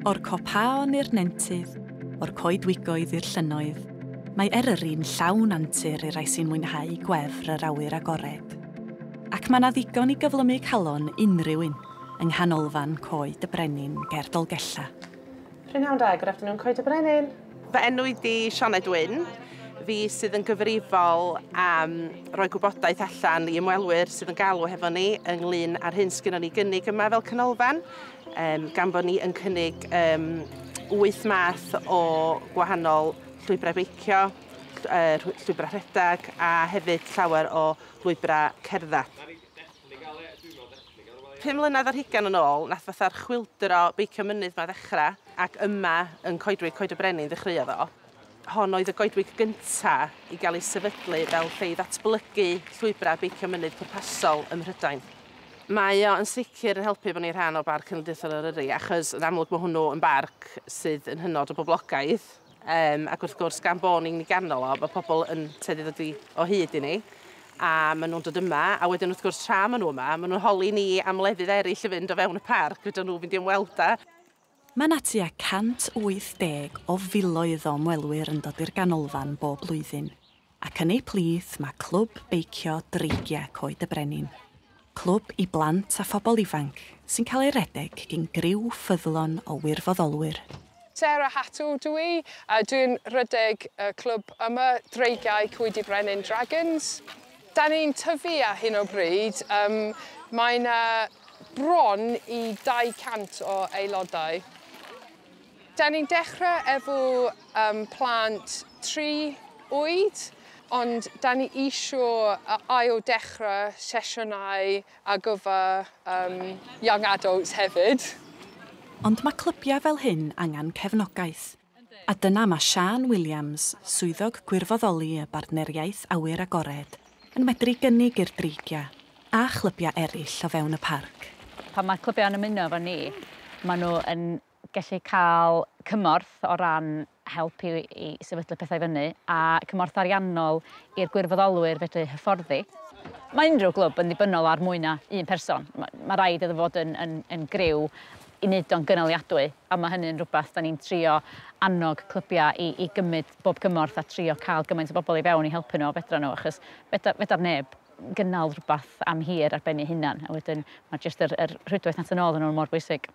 O'r copaon i'r nentydd, o'r coedwigoedd i'r llynnoedd, mae Eryri'n llawn antur i rai sy'n mwynhau gwefr yr awyr agored. Ac mae 'na ddigon i gyflymu calon unrhyw un yng nghanolfan Coed y Brenin ger Dolgellau. Prynhawn da, good afternoon Coed y Brenin. Fy enw i di Sioned Wyn. Fi sydd yn gyfrifol am roi gwybodaeth allan i ymwelwyr sydd yn galw hefo ni ynglyn â'r hyn sgynnon ni gynnig yma fel canolfan, um, gan bod ni yn cynnig um, wyth math o gwahanol llwybrau beicio, llwybrau rhedeg a hefyd llawer o lwybrau cerdded. Pum mlynedd ar hugain yn ôl nath fatha'r chwyldro beicio mynydd 'ma ddechra, ac yma yn Coedwig Coed y Brenin ddechreuodd o. Hon oedd y goedwig gynta i gael ei sefydlu fel lle i ddatblygu llwybrau beicio mynydd pwrpasol ym Mhrydain. Mae o yn sicr yn helpu bod ni'n rhan o Barc Cenedlaethol Eryri achos yn amlwg mae hwnnw yn barc sydd yn hynod o boblogaidd. Um, ac wrth gwrs, gan bod ni'n ganol o, mae pobl yn teddu ddod i o hyd i ni, a maen nhw'n dod yma, a wedyn wrth gwrs tra maen nhw yma, maen nhw'n holi ni am lefydd eraill i fynd o fewn y parc, fydden nhw'n mynd i ymweld â. Mae yna tua 180 o filoedd o ymwelwyr yn dod i'r ganolfan bob blwyddyn. ac yn eu plith mae Clwb Beicio Dreigiau Coed y Brenin, clwb i blant a phobl ifanc sy'n cael ei redeg gin griw ffyddlon o wirfoddolwyr. Sarah Hatto dw i, a dwi'n rhedeg y clwb yma, Dreigiau Coed y Brenin Dragons. Dan ni'n tyfu ar hyn o bryd, yym mae 'na bron i 200 o aelodau. Da ni'n dechrau efo um, plant tri oed, ond da ni isio ail dechrau sesiynau ar gyfer um, young adults hefyd. Ond mae clybiau fel hyn angen cefnogaeth, a dyna mae Siân Williams, Swyddog Gwirfoddoli y Bartneriaeth Awyr Agored, yn medru gynnig i'r Dreigiau a chlybiau eraill o fewn y parc. Pan mae clybiau'n ymuno efo ni, maen nhw yn gallu cael cymorth o ran help i i sefydlu pethau fyny a cymorth ariannol i'r gwirfoddolwyr fedru hyfforddi. Mae unrhyw glwb yn ddibynnol ar mwy na un person. Mae ma raid iddo fod yn, yn, yn griw i wneud o'n gynaliadwy a mae hynny'n rhywbeth da ni'n trio annog clybiau i, i gymryd bob cymorth a trio cael gymaint o bobl i fewn i helpu nhw a fedra nhw achos fedar, fedar neb gynnal rhywbeth am hir ar ben ei hunan a wedyn mae jyst yr, yr rhwydwaith nath yn ôl yn nhw mor bwysig.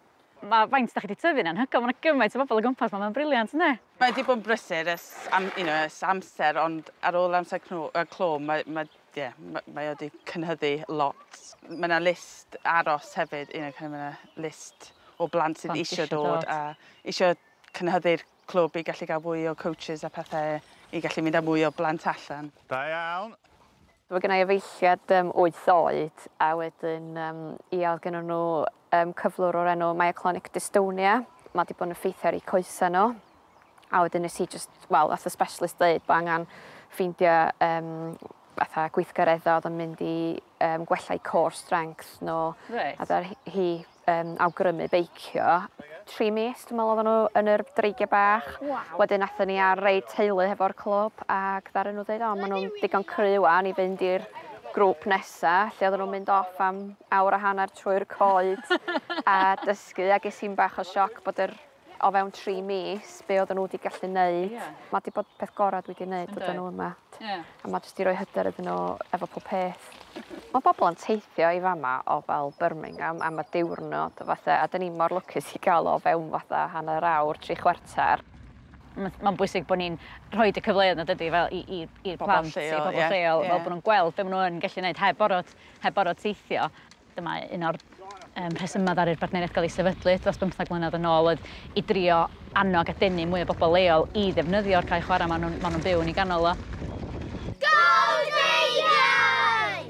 Mae faint da chi 'di tyfu'n anhygoel, mae 'na gymaint o bobl o gwmpas 'ma, mae'n briliant, ynde? Mae 'di bod yn brysur ers am- you know ers amser ond ar ôl amser cno yy clo mae ma' ie ma' mae o 'di cynhyddu lot. Ma' 'na list aros hefyd you know kin' of ma' 'na list o blant sydd Plant isio isio dod dod. a isio cynhyddu'r clwb i gallu ga'l fwy o coaches a pethe i gallu mynd â mwy o blant allan. Da iawn. Mae gen i efeilliad um, wyth oed a wedyn um, ia, oedd gen nhw um, cyflwr o'r enw myoclonic dystonia. Mae wedi bod yn effeithio ar ei coesau nhw. A wedyn nes i just, wel, nath y specialist dweud bod angen ffeindio um, fatha gweithgareddau oedd yn mynd i um, gwella i core strength nhw. Right. A hi um, awgrymu beicio. Tri mis, dwi'n meddwl, oedden nhw yn yr dreigiau bach. Wow. Wedyn athyn ni ar reid teulu hefo'r clwb ac ddaren nhw dweud, o, maen nhw'n digon cry wan i fynd i'r grŵp nesa, lle oedden nhw'n mynd off am awr a hanner trwy'r coed a dysgu, a ges i'n bach o sioc bod yr o fewn tri mis be oedden nhw wedi gallu wneud. Yeah. Mae wedi bod peth gorau dwi wedi wneud oedden nhw yma. Yeah. A mae jyst i roi hyder iddyn nhw efo pob peth. Mae bobl yn teithio i fama o fel Birmingham am y diwrnod fatha, a dyn ni mor lwcus i gael o fewn fatha hanner awr, tri chwarter. Mae'n bwysig bod ni'n rhoi y cyfleoedd na dydy fel i, i, i'r plant, i bobl lleol, yeah. fel bod nhw'n gweld be maen nhw'n gallu gwneud heb orfod, heb orfod teithio. Dyma un o'r rhesymau ddaru'r bartneriaeth gael ei sefydlu dros bymthag mlynedd yn ôl oedd i drio annog a denu mwy o bobl leol i ddefnyddio'r cae chwarae maen nhw'n maen nhw'n byw yn ei ganol o. Go Dreigiau!